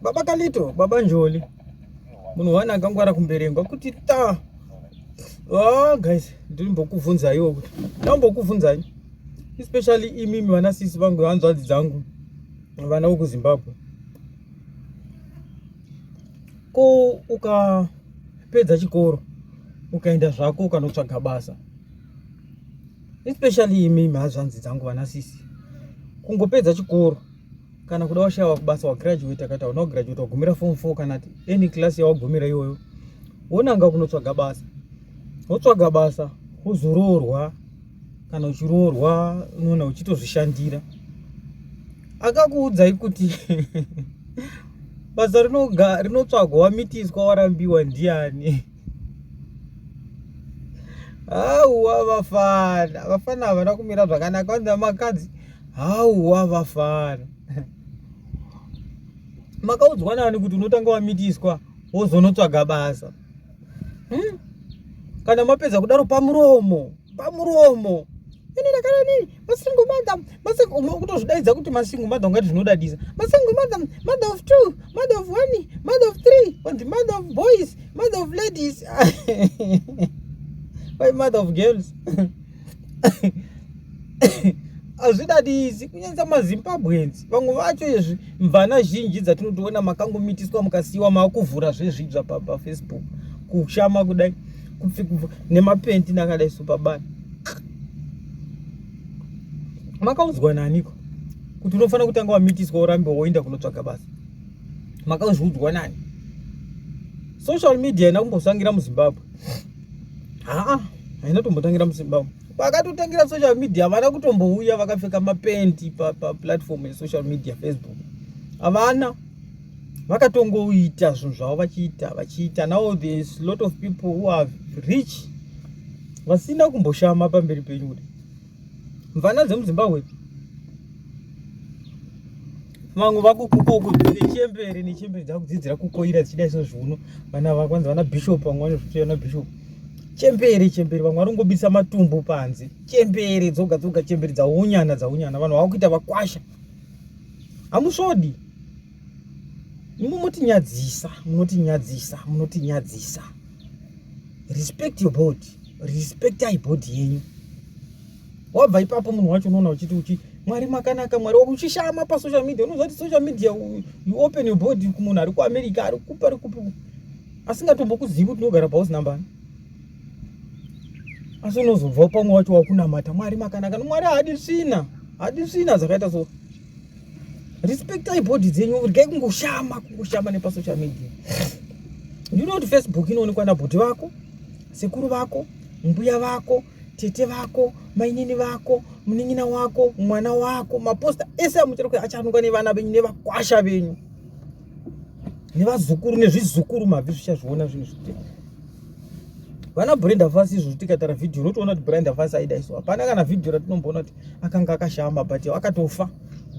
baba kalito baba njoli munhu wani akangwara kumberengwa kuti ta oh, guys ndirimbokuvhunzaiwo kuti ndambokuvhunzai especially imimi vana sisi vangu hanzvadzi dzangu vana vekuzimbabwe ko ukapedza chikoro ukaenda zvako ukanotsvaga basa especially imimi hazvanzi dzangu vana sisi kungopedza chikoro kana kuda washaya wakubasa wagraduate kaita no graduate wagumira form 4 kana any class yawagumira iyoyo wonanga kunotsvaga basa wotsvaga basa wozoroorwa kana uchiroorwa unoona uchitozvishandira akakuudzai kuti basa rinotsvagwa wamitiswa warambiwa ndiani hauwa vafana vafana havana kumira zvakanaka vanzi vamakadzi hauwa vafana makaudzwa nani kuti unotanga wamitiswa wozonotsvaga basa hmm? kana mapedza kudaro pamuromo pamuromo ini ndakadani masingle mother masingle umwe kutozvidaidza kuti masingle mother ungati zvinodadisa masingle mother mother of two mother of one mother of three and mother of boys mother of ladies why mother of girls hazvidadisi kunyanisa mazimbabwenzi vamwe vacho izvi mvana zhinji dzatinotoona makangomitiswa mukasiyiwa maakuvhura zvezvibza pafacebook kushama kudai kupfigubva nemapendi nakadai supabani makaudzwa naniko kuti unofanira kutanga wamitiswa urambe woenda kunotsvaga basa makauzviudzwa nani social media haina kumbosangira muzimbabwe haa haina tombotangira muzimbabwe vakatotangira social media havana kutombouya vakapfeka mapendi paplatform pa yesocial media facebook havana vakatongoita zvinhu zvavo vachiita vachiita now there's lot of people who are rich vasina kumboshama pamberi penyu kuti mvana dzemuzimbabwe vamwe vakukukokudzire chembere nechembere dzakudzidzira kukoira dzichida iso zviuno vana vakwanzi vana bishop vamwe vanozviti vana bishop chembere chembere vamwe vari kungobisa matumbu panze chembere dzoga dzoga chembere dzaunyana dzaunyana vanhu vakuita vakwasha hamusvodi imwe motinyadzisa munotinyadzisa munotinyadzisa respect your body respect i body yenyu wabva ipapo munhu wacho unoona uchiti uchi mwari makanaka mwari uchishama pasocial media unoziva kuti social media you open your body kumunhu ari kuamerica ari kupi ari kupi asingatombokuzivi kuti unogara pausina mbani asi unozobvawo pamwe wacho wakunamata mwari makanaka nomwari haadi svina haadi svina dzakaita so respectai body dzenyu rgai kungoshama kungoshama nepasocial media you know kuti facebook inoonekwa nabhoti vako sekuru vako mbuya vako tete vako mainini vako munin'ina wako mwana wako maposta ese amuchera kuti achanunga nevana venyu nevakwasha venyu nevazukuru nezvizukuru mabvi zvichazviona zvinhu zvitema vana brenda fasi izvozvo tikatara vhidhiyo unotoona kuti brenda fasi aida isu hapana kana vhidhiyo ratinomboona kuti akanga akashama but akatofa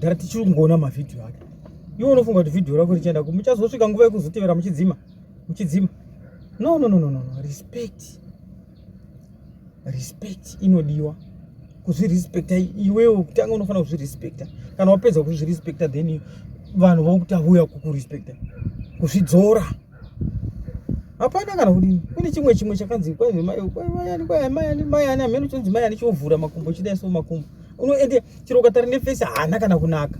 dara tichiri kungoona mavhidhiyo ake iwe unofunga kuti vhidhiyo rako richienda ku muchazosvika nguva yekuzotevera muchidzima muchidzima no no no no no respect respect inodiwa kuzvirespecta iwewe kutanga unofanira kuzvirespecta kana wapedza kuzvirespecta then vanhu vokutavuya kukurespecta kuzvidzora hapana kana kudini kune chimwe chimwe chakanzi kwaimayani kwaimayani mayani amene uchinzi mayani chiovhura makumbo chidai so makumbo unoende chero ukatari nefesi haana kana kunaka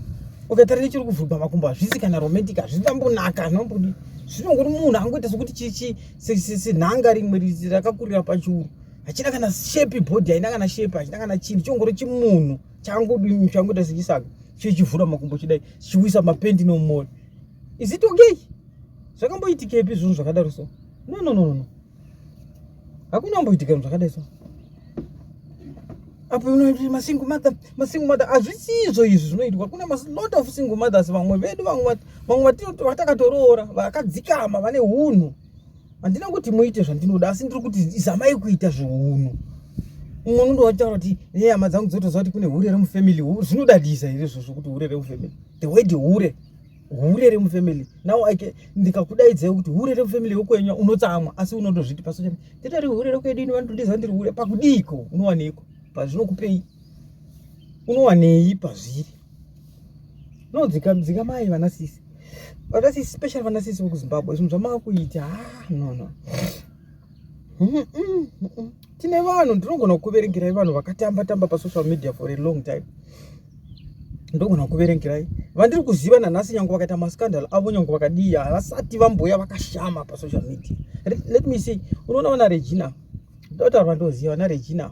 ukatari nechiri kuvhurwa makumbo hazvisi kana romantic hazvitambonaka zvinombodi zvinongori munhu angoita sokuti chichi sinhanga rimwe rakakurira pachiuru hachina kana shepi bhodhi haina kana shepi hachina kana chinhu chongori chimunhu changodini changoita sechisaga chichivhura makumbo chidai chichiwisa mapendi nomoyo is it okay zvakamboitikepi zvinhu zvakadaro so no no no no hakuna kumboitika zvinhu zvakadai so apo unoiti masingle mother masingle mother hazvisizvo izvi zvinoitwa kune lot of single mothers vamwe vedu vamwe vamwe vatakatoroora vakadzikama vane hunhu handina kuti muite zvandinoda asi ndiri kuti zamai kuita zveunhu umwe unondo wataura kuti ne hama dzangu dzotoziva kuti kune hure remufamily zvinoda disa here izvozvo kuti hure remufamily the word hure hure remufamily now ike ndikakudaidzai kuti hure remufamily yokwenya unotsamwa asi unotozviti pasocha nditori hure rekwedu ini vanotondiza ndiri hure pakudiiko unowaneiko pazvinokupei unowanei pazviri no dzika dzika mai vana sisi vana sisi special vana sisi vekuzimbabwe zvinhu zvamava kuita ah no no tine vanhu ndinogona kukuverengerai vanhu vakatamba tamba pasocial media for a long time ndogona kukuverengerai vandiri kuziva nanhasi nyange vakaita mascandal avo nyange vakadii havasati vamboya vakashama pasocial media let me see unoona vana regina ndotaura ndoziva vana regina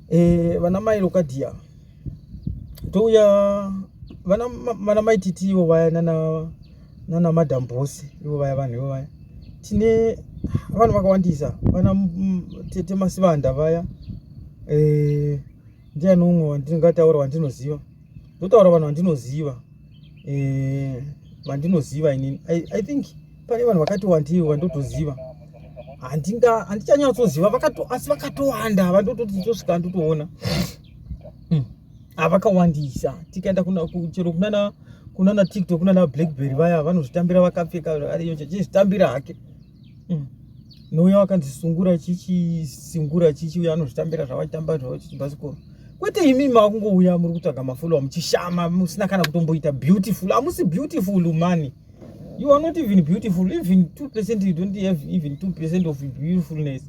Eh, vana mai Lokadia touya vana vana mai titi ivo vaya nana nana madam boss ivo vaya vanhu ivo vaya tine vanhu vakawandisa vana tete masivanda vaya eh ndiani umwe wandingataura wandinoziva ndotaura vanhu vandinoziva eh, vandinoziva inini i think pane vanhu vakati wandii vandotoziva handinga handichanyatsoziva asi vakatowanda vandototi tosvika ndotoona hmm. avakawandisa tikaenda chero kunana kunana tiktok kunana blackberry vaya vanozvitambira vakapfeka ariyo chechizvitambira hake mm. nouya wakanzisungura chichisungura chichi uya anozvitambira zvawachitamba zvavo chichibhasikoro kwete imi makungouya muri kutsvaga mafollowa muchishama musina kana kutomboita beautiful hamusi beautiful mani you are not even beautiful even two percent you don't have even two percent of beautifulness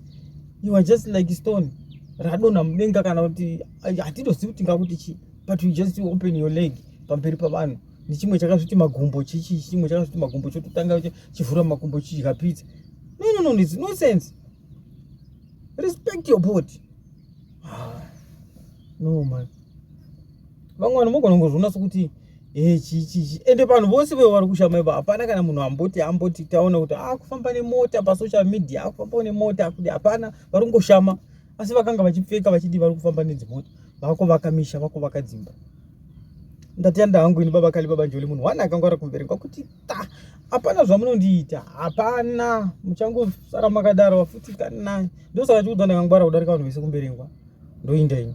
you are just like stone radonha mudenga kana kuti hatitozivi kuti ngakuti chii but you just open your leg pamberi pavanhu nechimwe chakazviti magumbo chichi chimwe chakazviti magumbo chototanga chivhura makumbo chidya pizza no no no it's no sense respect your body ah, no man vamwe vanhu mogona kungozviona sokuti e chichichi ende vanhu vose veo vari kushama ivo hapana kana munhu amboti amboti taona kuti akufamba ah, nemota pasocial media akufambawo ah, nemota kuti hapana vari kungoshama asi vakanga vachipfeka vachidi vari kufamba nedzimota vakuvaka misha vakuvaka dzimba ndatenda hangu ini baba kali baba njoli munhu wani akangwara kumberengwa kuti ta hapana zvamunondiita hapana muchangosara makadaro vafuti kanai ndosaka chikuti ndakangwara kudarika vanhu vese kumberengwa ndoinda ini